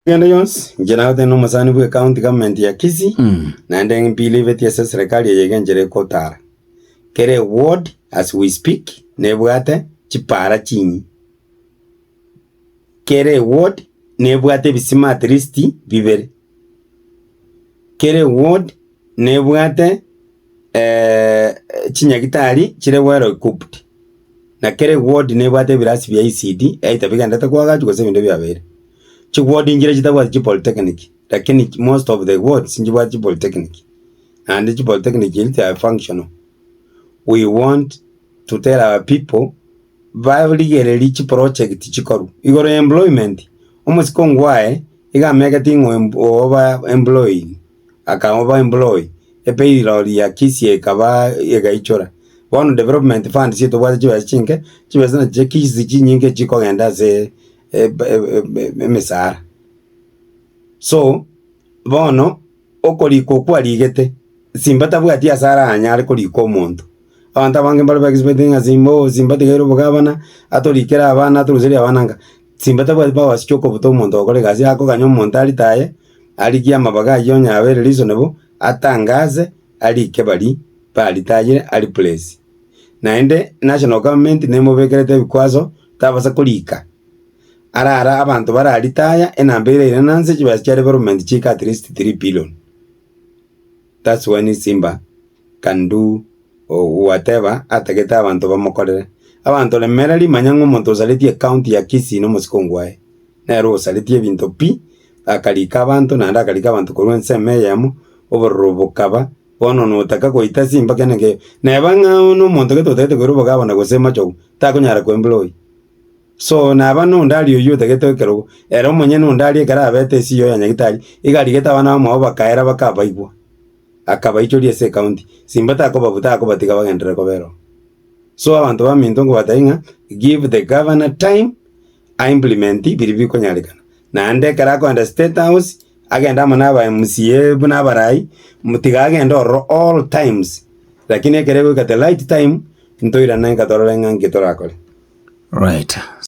Egento gionsi inche nagoteba nomosani bwe county government ya Kisii, naende mbelieveti ase eserekari eye iga enchera ekotara. Kera eward as we speak nebwate chipara chinyi. Kera eward nebwate ebisima at least bibere. Kera eward nebwate chinyagitari chire well equipped. Na kera eward nebwate ebirasi bia ECD either bigendete koagachwa gose ebinde biabeire. Chi ward nchire chitabwati chi polytechnic, lakini chi most of the wards nchibwati chi polytechnic, naende chi polytechnic echio they are functional. We want to tell our people barigererie chi project chikorwa igoro ya employment, omosike ongwaye iga amegete ng'a oyo mpo- oyo oba employed, aka oba employ, epayroll ya KISE ekaba egaichora. Bono development funds etobwate chibesa chinke, chibesa nachi chia KISE chinyinge chikogenda ase. eb- eb- eb- eb- emesara. So, bono okorikwa okwo arigete, simba tabwati asara anyare korika omonto. Abanto abange mbare ba expecting ng'a simba oo simba tigaire obogabana, atorikere abana atoruserie abana nka, simba tabwati powers chia okobuta omonto ogokora egasi akoganya omonto aritaye, arigie amabaga aywo onye abeire reasonable, atangaze, arike baria baritayire, a replace. naende National Government nemobekerete ebikwaso tabasa korika. Arara abanto bara retire enamba ere ira nanse chibesa chia development chiika at least three billion. That's when Simba can do whatever atagete abanto bamokorere. Abanto remera rimanya ng'a omonto osaretie county ya Kisii na omosike ongwaye, nere osaretie ebinto pi, akarika abanto naende akarika abanto korwa ensemo eyemo, obororo bokaba, Bono notaka goita ase embaka ende nkeyo, neba ng'a one omonto gete otagete koira obogabo na gose machogu, takonyara koembura oyio. So, naba nonde aria oyio otagete ekerogo, ere omonyene onde aria ekero abete esiyo ya Nyagetari, iga arigete abana bamwabo bakaera bakabaigwa, akabaichoria ase ekaunti, simba takobabu takobatiga bagenderere kobera oo. So abanto baminto nkobatebi ng'a, give the governor time. a implement biria bikonyarekana. Naende ekero akoenda state house, agende amo na aba MCA buna abarai, mbu tiga agende ororo all times, rakini ekero egoika the right time, ntoirane inga torore ng'a nki torakore. Right.